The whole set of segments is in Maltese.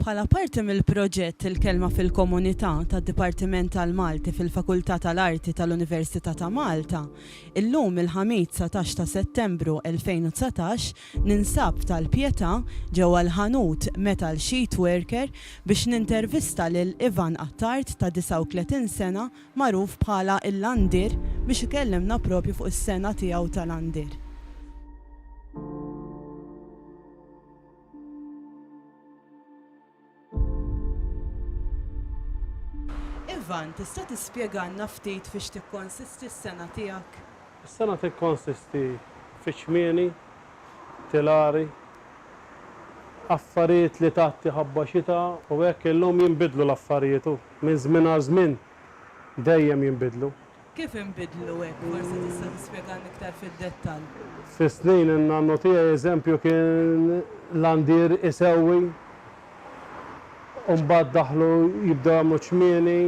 Bħala parti mill-proġett Il-Kelma fil-Komunità tad-Dipartiment tal-Malti fil-Fakultà tal-Arti tal-Università ta' Malta, illum il-Ħamis 19 ta' Settembru 2019 ninsab f'Tal-Pietà ġewwa l-ħanut Metal Sheet Worker biex nintervista lil Ivan Attard ta' 39 sena magħruf bħala l-Għandir biex ikellimna propju fuq is-sengħa tiegħu tal-għandir. Ivan, tista' tispjegalna ftit fiex tikkonsisti s-sengħa tiegħek? Is-sengħa tikkonsisti fi ċmieni, tilari, affarijiet li tgħatti ħabba xita u hekk illum jinbidlu l-affarijiet u. Minn żmien għal żmien dejjem jinbidlu. Kif inbidlu hekk? Forsi tista' tispjegalna iktar fid-dettall. Fis-snin in-nannu tiegħi eżempju kien landier isewwi u mbagħad daħlu jibdew jagħmlu ċmieni,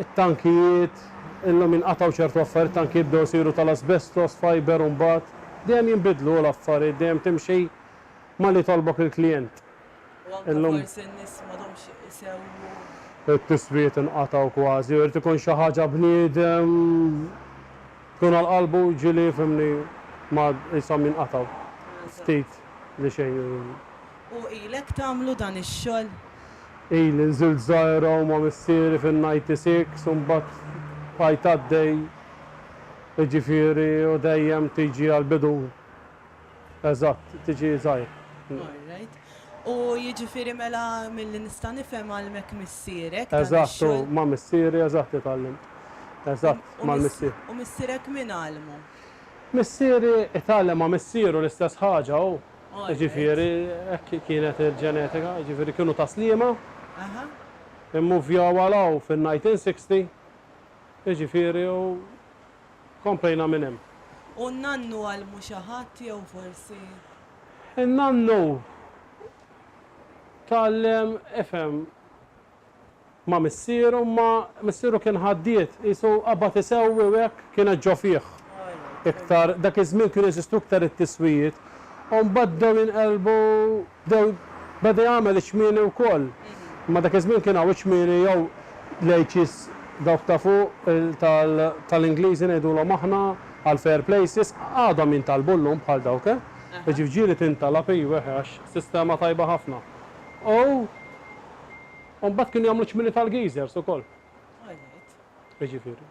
it-tankijiet, illum jinqatgħu ċertu affarijiet, it-tankijiet bdew isiru tal-asbestos fiber u mbagħad. Dejjem jinbidlu l-affarijiet, dejjem timxi ma' li jtolbok il-klijent. Illum. It-tiswiet inqatgħu kważi u jrid ikun xi ħaġa bniedem tkun għal qalbu ġieli fhimni ma qishom jinqatgħu ftit li xejn. U ilek tagħmlu dan ix-xogħol? Ili nżilt żgħira u ma' missieri fin-ninety six u mbagħad bqajt għaddej jiġifieri u dejjem tiġi għall-bidu Eżatt, tiġi żgħir. All right. U jiġifieri mela milli nista' nifhem għallmek missierek dan ix-xogħol. Eżatt, u ma' missieri eżatt li tgħallimt. Eżatt, mal-missier. U missierek min għallmu? Missieri tgħallem ma' missieru l-istess ħaġa hu. Jiġifieri hekk kienet il-ġenetika, jiġifieri kienu ta' Sliema, immuvjaw għal hawn fin-1960, jiġifieri u Komplejna minn hemm. U n-nannu għallmu xi ħadd jew forsi. In-nannu tgħallem ifhem ma' missieru imma missieru kien ħaddied qisu qabad isewwi u hekk kienet ġo fih iktar. Dak iż-żmien kienu jeżistu iktar it-tiswijiet u mbagħad bdew jinqelbu. Bdew beda jagħmel iċ-ċmieni wkoll, imma dak iż-żmien kien hawn iċ-ċmieni jew l-h's dawk ta' fuq tal-Ingliżi ngħidulhom aħna għall-fairplaces, għadhom jintalbu llum bħal dawk eh. Iġ-ġieli tintalab iva eh għax sistema tajba ħafna. U mbagħad kienu jagħmlu ċ-ċmieni tal-geezers ukoll. Iġifieri.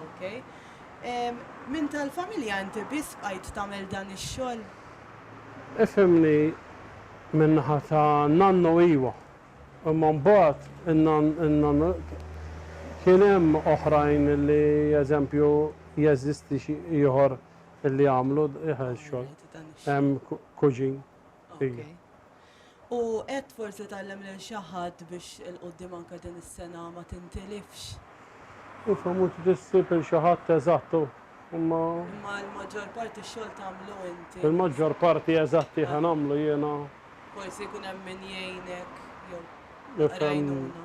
Okej. Minn tal-familja inti biss bqajt tagħmel dan ix-xogħol? Ifhimni min-naħa ta' nannu iwa, imma mbagħad in-nann kien hemm oħrajn li eżempju jeżisti xi ieħor li jagħmlu dan ix-xogħol. Hemm kuġin. Ok. U qed forsi tgħallem lil xi ħadd biex 'il quddiem anke din is-sena ma tintilifx? Iva, mhux ġiet issib 'il xi ħadd eżatt u, imma. Imma l-maġġor parti x-xogħol tagħmlu inti. Il-maġġor parti eżatt iva nagħmlu jiena. Forsi jkun hemm min jgħinek jew taqra għajnuna.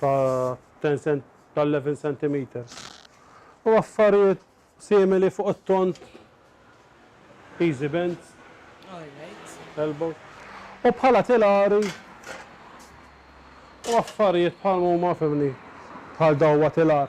ta' 11 centimetres u affarijiet simili fuq it-tond easy bends, elbow, u bħala tilari u affarijiet bħal huma fimni bħal dawwa tilar.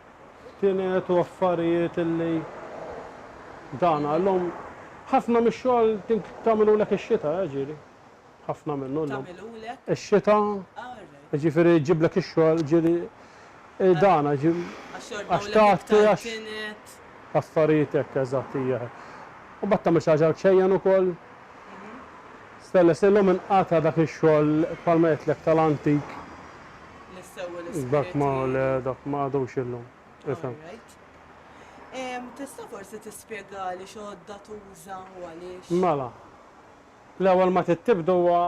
F'tienet u affarijiet illi dan għal lhom ħafna mix-xogħol tagħmilulek ix-xita, eh ġieli. Ħafna minnu llum. Tagħmilulek? Ix-xita, jiġifieri jġiblek ix-xogħol, ġieli dan għax tagħti għax affarijiet hekk eżatt hija hekk. U mbagħad tagħmel xi ħaġa għal ċejjen ukoll. Stella, se llum inqata' dak ix-xogħol bħalma għedtlek tal-antik. Dak ma le, dak ma għadux illum. Ifhem. Tista' forsi tispjegali x'għodda tuża u għaliex? Mela. L-ewwel ma tittibd huwa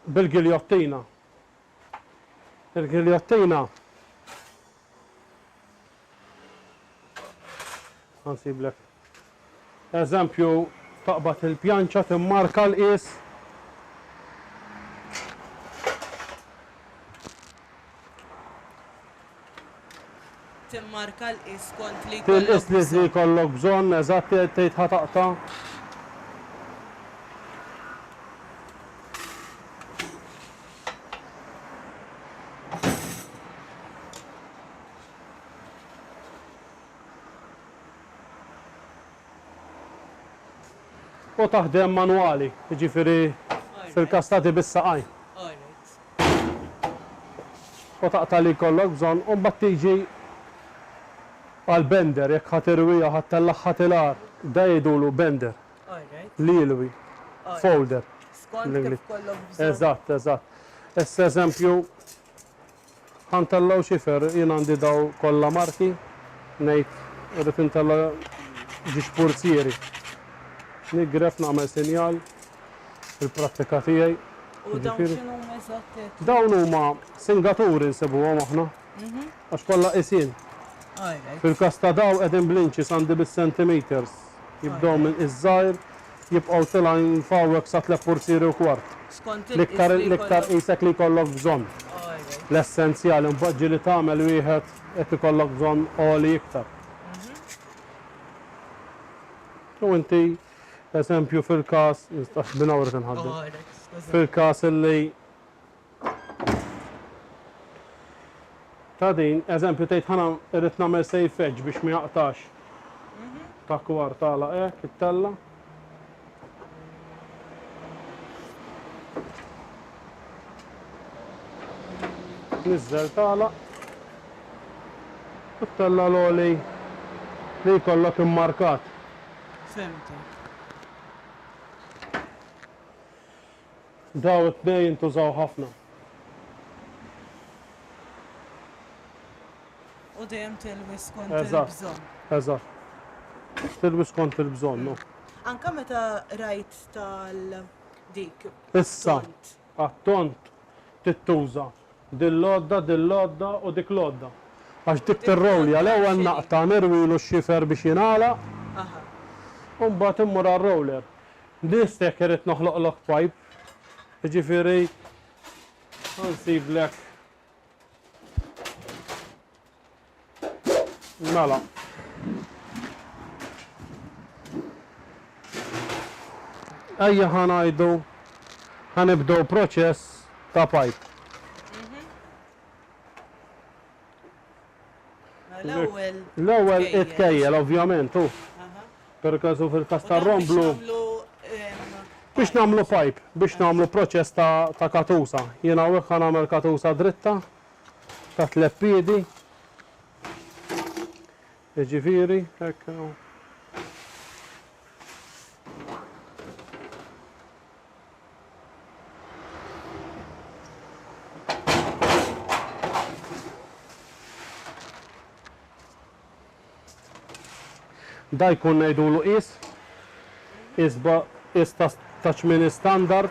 bil-giljottina. Il-giljottina Nsiblek eżempju taqbad il-pjanċa timmarka l-qies. Timmarka l-qies kont li jkollok. Tilqis li jkollok bżonn, eżatt tgħid ħataqta'. U taħdem manwali, jiġifieri fil-każ ta' di bis-saqajn. U taqta' li jkollok bżonn u mbagħad tiġi għall-bender, jekk ħa tirwiha u ħa ttellagħha tilar, da jgħidulu bender, li jilwi, folder bl-Ingliż. Eżatt, eżatt. Issa eżempju, Ħa ntellgħu xifer, jien għandi daw kollha marki, ngħid irrid intella' xi xpurzieri. Nigref nagħmel sinjal fil-prattika tiegħi. U dawn x'inhuma eżatt għedt? Dawn huma singaturi nsibuhom aħna. Għax kollha qisin. Fil-każ ta' daw qegħdin bl-inches għandi bis-centimetres. Jibdew minn iż-żgħir Jibqgħu tilgħin f'hawnhekk sa tliet fursieri u kwart. L-iktar l-iktar qisek li jkollok bżonn. L-essenzjali mbagħad ġieli tagħmel wieħed jekk ikollok bżonn għoli iktar. Jew inti eżempju fil-każ, nistax minn hawn irrid inħaddem. Fil-każ illi. Ta' din, eżempju tgħid ħana irrid nagħmel save edge biex ma jaqtax ta' kwar tagħlaq hekk it-tella. Niżżel tagħlaq. U t-tella l-oli li jkollok immarkat. Fimtek. Daw it-tnejn intużaw ħafna. U dejjem tilwi skont il-bżonn. Eżatt. Tilwi skont il-bżonn. Anka meta rajt tal dik. Issa, għat-tont tittuża din l-għodda, din l-għodda u dik l-għodda. Għax dik tirrowlja l-ewwel naqta nirwilu x-xifer biex jingħalaq u mbagħad immur għar-roller. Biss jekk irrid noħloqlok pajp, jiġifieri nsiblek Mela. Ejja ħanajdu ħanibdew proċess ta' pajp. L-ewwel. L-ewwel itkejjel ovvjament u. Per każ fil-każ tar-romblu. Biex nagħmlu pipe, biex nagħmlu proċess ta' katusa. Jien hawnhekk ħa nagħmel katusa dritta ta' tliet piedi. Jiġifieri, hekk hu. Dan jkun ngħidulu qies, qies ta' tmien istandard.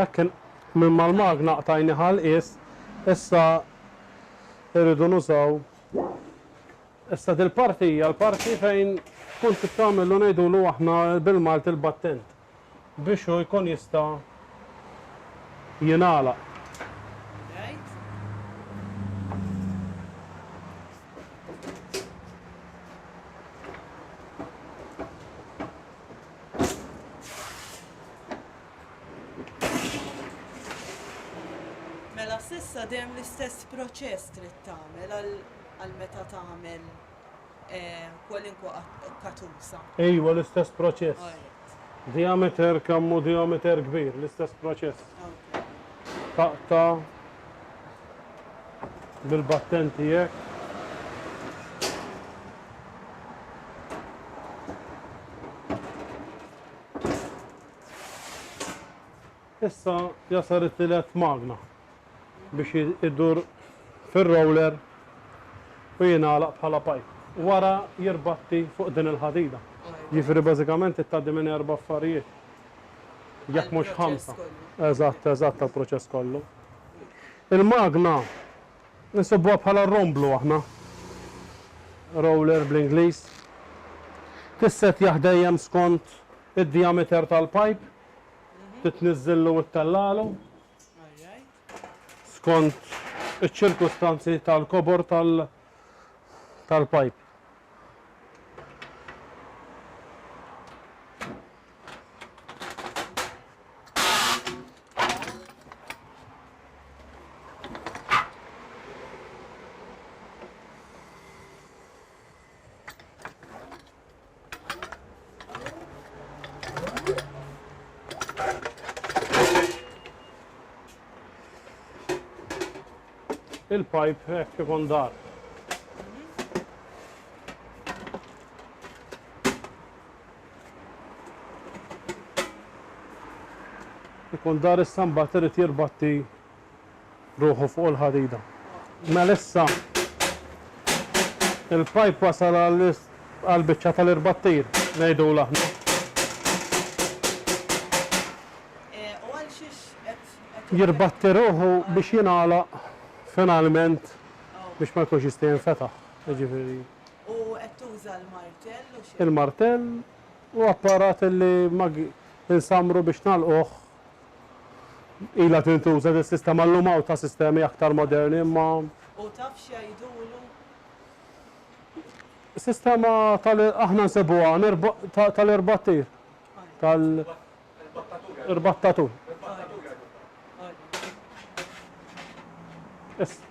Ekkin, minn mal-magna qtajni ħal is, issa irridu nużaw. Issa dil-parti hija l-parti fejn tkun tittamillu ngħidulu aħna bil-Malti l-battent. biex hu jkun jista' jingħalaq. Mela s'issa dejjem l-istess proċess trid tagħmel għal meta tagħmel kwalunkwe katuża. Ejwa, l-istess proċess. Diameter kemm hu diameter kbir, l-istess proċess. Taqta' bil-battenti hekk. Issa jasal it-tielet magna. biex idur fir-roller u jingħalaq bħala pipe. Wara jirbatti fuq din il-ħadida. Jiġifieri bażikament trid tgħaddi minn erba' affarijiet jekk mhux ħamsa. Eżatt, eżatt għall-proċess kollu. Il-magna nsibuha bħala romblu aħna, roller bl-Ingliż. Tissettjah dejjem skont id-diameter tal-pipe, titniżżillu u ttellagħlu. skont iċ-ċirkustanzi tal-kobor tal-pajp. il-pipe hekk eh, ikun dar. Ikun dar issa mbagħad irid jirbatti ruħu fuq il-ħadida. Mela issa il-pajp wasal għall-biċċa tal-irbattir, ngħidulha aħna. Jirbatti ruħu biex jingħalaq finalment biex ma jkunx jista' jinfetaħ. Jiġifieri. U qed tuża l-martell u xi? Il-martell u apparat li insammru biex nagħlquh Ilha tintuża din is-sistema llum hawn ta' sistemi aktar moderni imma. U taf x'jgħidulu? Sistema tal aħna nsibuha tal-irbattir. Tal. Irbattatur. Irbattatur. Issa.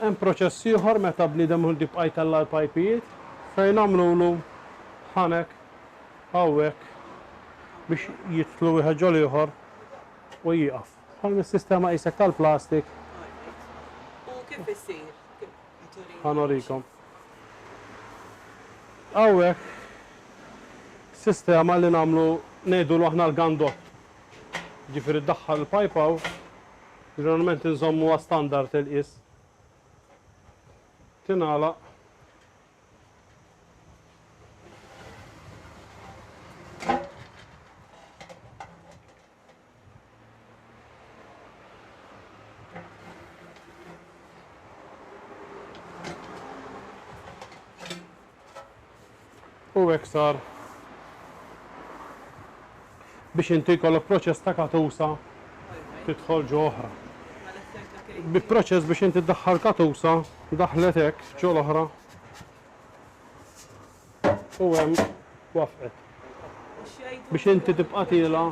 Hemm proċess ieħor meta bniedem iħu l-bib qaj tella' l-pajpijiet fejn għamlulu ħanek hawnhekk biex jidħlu wieħed ġo l-ieħor u jieqaf. Bħal mis-sistema qisek tal-plastik. Right. U kif isir? Ħa norikom. Hawnhekk sistema li nagħmlu ngħidulu aħna l-gandott. Jiġifieri ddaħħal il-pajp hawn Ġeneralment inżommuha standard il-qies. Tingħalaq. u iktar biex inti jkollok proċess ta' katusa tidħol ġo oħra. Bi proċess biex inti ddaħħal katusa daħlet hekk ġo l-oħra u hemm wafqet. Biex inti tibqa' tiela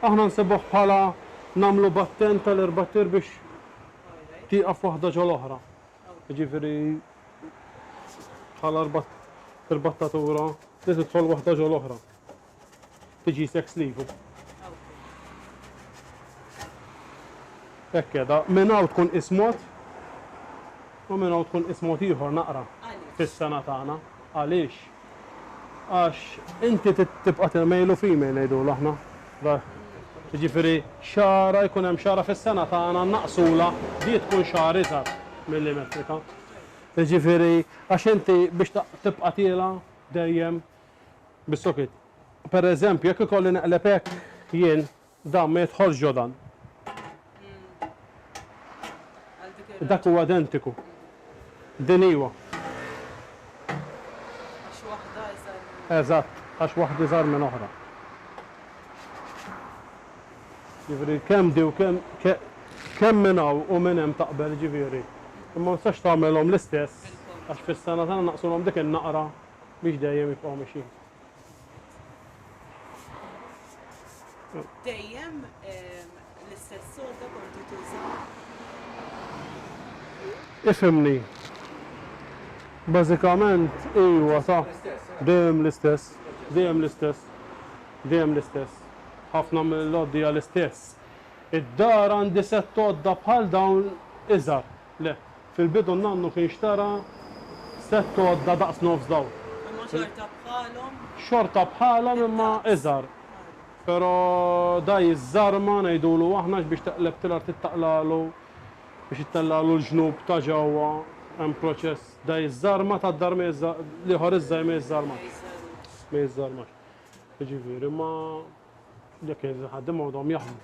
aħna nsibuh bħala nagħmlu batten tal-erbattir biex tieqaf waħda ġo l-oħra. Jiġifieri bħala rbattatura li tidħol waħda ġo l-oħra. Tiġi sex sleeve. Hekk qiegħda. Minn hawn tkun qis mod u minn hawn tkun qis mod ieħor naqra fis-sena tagħna. Għaliex? Għax inti tibqa' tirmejlu female ngħidulu aħna. Jiġifieri xahra jkun hemm xahra fis-sena tagħna nnaqqsulha di tkun xahar iżgħar milli metrika. Jiġifieri għax inti biex tibqa' tiela' dejjem bis-sokit. Pereżempju jekk ikolli neqleb hekk jien Dan ma jidħolx ġo dan. Dak huwa identiku. Din iva. Għax waħda iżgħar minn. Eżatt, għax waħda iżgħar minn oħra. Ġifieri kemm di u kemm kemm minn hawn u minn hemm taqbel ġifieri. Imma ma tistax tagħmilhom l-istess għax fis-sena tagħna naqsulhom dik in-naqra biex dejjem jibqgħu mixjin. Dejjem l-istess għodda kontu tuża? Ifhimni. Bażikament iwa sa. Dejjem l-istess. Dejjem l-istess. Dejjem l-istess. Ħafna mill-għoddi hija l-istess. Id-dar għandi sett għodda bħal dawn iżgħar. Le. Fil-bidu n-nannu kien xtara sett għodda daqs nofs dawn. Imma xorta bħalhom? Xorta bħalhom imma iżgħar. Però da jiżżarma ngħidulu aħna għax biex teqleb tilar trid taqlagħlu biex ittellagħlu l-ġnub ta' ġewwa hemm proċess. Da jiżżarma tad-dar ma jiżża l-ieħor iż-żgħir ma jiżżarmax. Ma jiżżarmax. Jiġifieri ma jekk il-ħaddiema għadhom jaħdmu.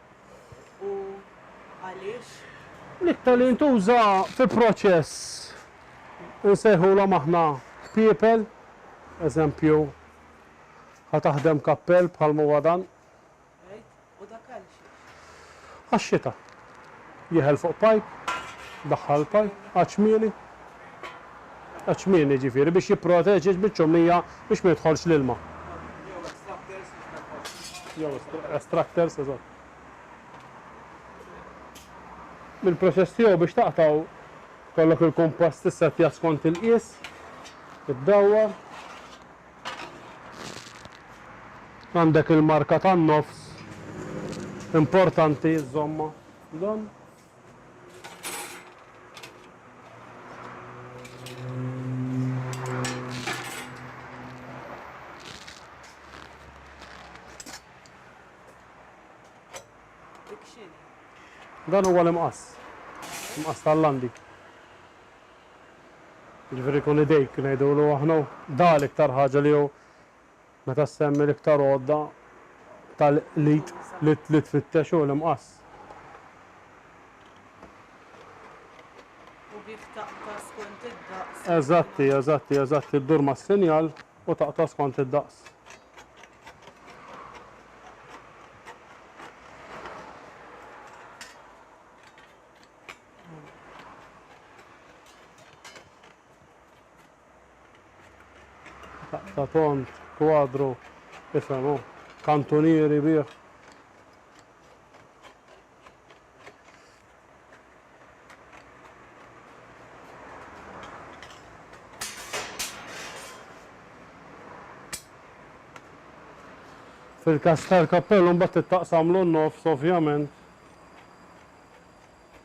u għaliex? L-iktar li jintuża fi proċess insejħulhom aħna kpiepel, eżempju, ħa taħdem kappell bħalma huwa dan. Right, u dak għal xiex? Għax-xita. Jeħel fuq pipe, daħħal il-pipe, għadd xmieli, Għaċ-ċmieni, jiġifieri, biex jipproteġi ġ-biċċommija biex ma jidħolx l-ilma. Jew extractors biex ma jidħolx l-ilma. Jew extractors, eżatt. Il-proċess tiegħu biex taqtgħu, jkollok il-kumpass tissettjah skont il-qies, iddawwar. Għandek il-marka tan-nofs, importanti żżommha. Żomm. Dan huwa l-imqas. Imqas tal-landi. Ġifieri kun idejk ngħidulu aħna. Da l-iktar ħaġa li hu Meta ssemmi l-iktar għodda tal-qlid li tfittex hu l-imqass. U bih taqta' skont id-daqs. Eżatti, eżatti, eżatti, ddur mas-sinjal u taqta' skont id-daqs. Ta' tond, kwadru, ifhem hu, kantunieri bih. Fil-każ tal-kappell imbagħad tittaqsamlu n-nofs ovvjament.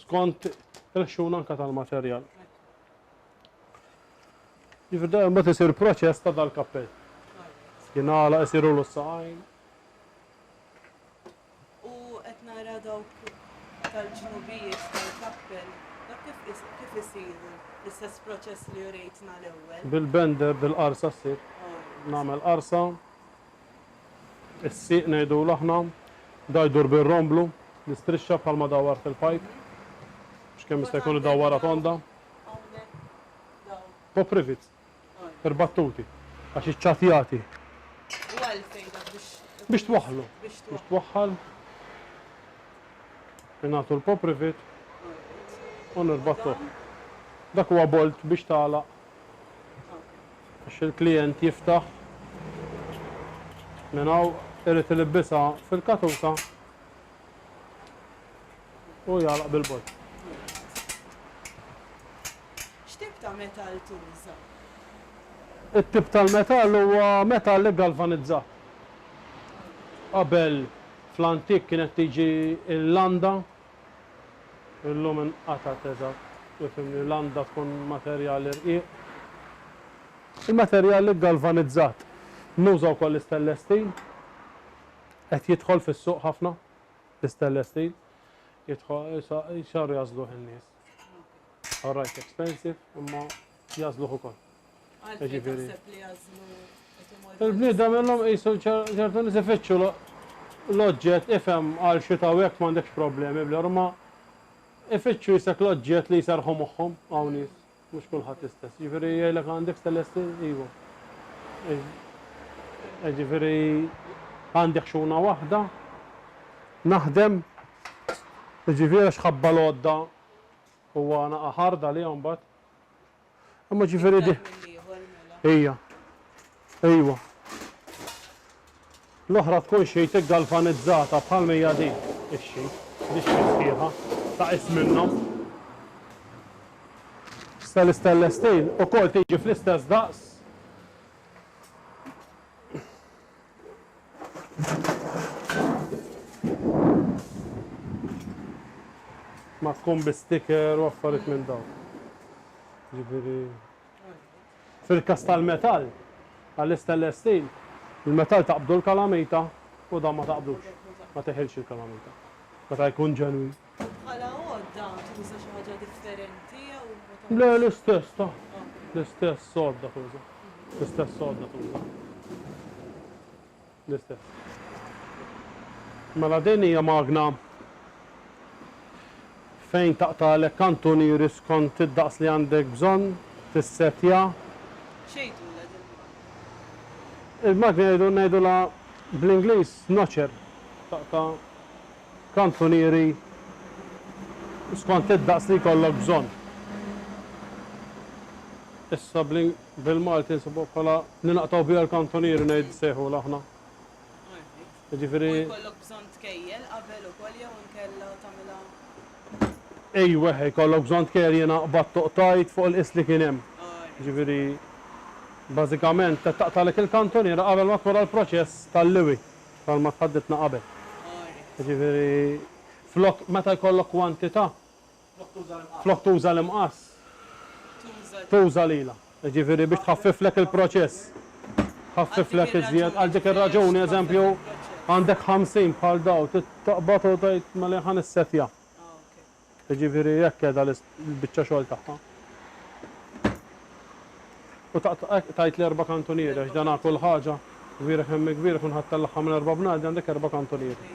skont il-ħxuna anke tal-materjal. Jiġifieri dejjem mbagħad isir proċess ta' dal-kappell. Jingħalaq isiru l saqajn U qed nara dawk tal-ġnubijiet tal-kappell, dak kif kif isiru l-istess proċess li rejtna l-ewwel. Bil-bender, bil-qarsa ssir. Nagħmel qarsa. Is-sieq ngħidulu aħna. Da jdur bir-romblu, l-istrixxa bħalma dawwar fil-pajp. Biex kemm jista' jkun idawwarha tonda. Top rivets. Ir-battuti. Għax iċ-ċatjati. U għalfejn dak biex. Biex twaħħlu. Biex twaħħal. Ingħatu l-pop rivet. U nirbattuh. Dak huwa bolt biex tagħlaq. Biex il-klijent jiftaħ minn hawn irid ilibbisha fil-katuta u jagħlaq bil-bord. X'tip ta' metall tuża? It-tip tal-metall huwa metall iggalvanizzat. Qabel fl-antik kienet tiġi l-landa Illum inqatgħet eżatt. Ifhimni, l-għandha tkun materjali rqiq. Il-materjal iggalvanizzat. Nuża wkoll l-istainless steel. Qed jidħol fis-suq ħafna l-istainless steel. Jidħol, x'għar jażluh in-nies. All right, expensive, imma jazluħ ukoll. Jiġifieri. Il-bniedem illum qisu ċertu nies ifittxu l-oġġett ifhem għal xi taw hekk m'għandekx problemi bl ma ifittxu jisek l-oġġett li jserħu moħħhom hawn nies, mhux kulħadd istess. Jiġifieri jgħidlek għandek stelessi iva. Jiġifieri għandek xuna waħda, naħdem, jiġifieri xħabba l-għodda u għana aħarda li għambat. Imma ġifieri di. Ejja. Ejwa. L-oħra tkun xejtek galvanizzata bħal mejja di. Ixxi. Di xi sħiħa. Ta' qis minnhom. Sta l-istellestejn ukoll tiġi fl-istess daqs. Ma tkun bi sticker u affarijiet minn dawn. Ġifieri. Fil-każ tal-metall, għall-istainless steel, il-metall taqbdu l-kalamita u dan ma taqbdux. Ma tiħilx il-kalamita. Meta jkun ġenwin. Bħala għodda tuża xi ħaġa differenti jew ma Le, l-istess ta' l-istess sodda tuża. L-istess sodda tuża. L-istess. Mela din hija magna fejn taqtalek kantunieri skont id-daqs li għandek bżonn tissetja. Xejdula din il-magna? Il-magna jgħidu ngħidulha bl-Ingliż notcher. Taqta' Kantunieri skont id-daqs li jkollok bżonn. Issa bil-Malti nsibuha bħala li naqtgħu biha l-kantunieri ngħid nsejħulha aħna. Jiġifieri U jkollok bżonn tkejjel qabel ukoll jew inkella tagħmilha Ejweh, jkollok bżonn tkejjel jiena qbadt u qtajt fuq il-qies li kien hemm. Jiġifieri bażikament qed taqtagħlek il-kantuniera qabel ma tmur għall-proċess tal-liwi. bħalma tħaddidtna qabel. Jiġifieri flok meta jkollok kwantità, flok tuża l-imqass, tuża lilha. Jiġifieri biex tħaffiflek il-proċess. Tħaffiflek iżjed. Għal dik ir-raġuni, eżempju, għandek 50 bħal dawn, trid taqbad u tgħid mela jien ħa nissettja. Jiġifieri hekk qiegħda l-biċċa xogħol tagħha. U tajt li erba' kantunieri għax dan ha kull ħaġa, kbira kemm hi kbira kun ħadd tellagħha minn erba' bnadi għandek erba' kantunieri.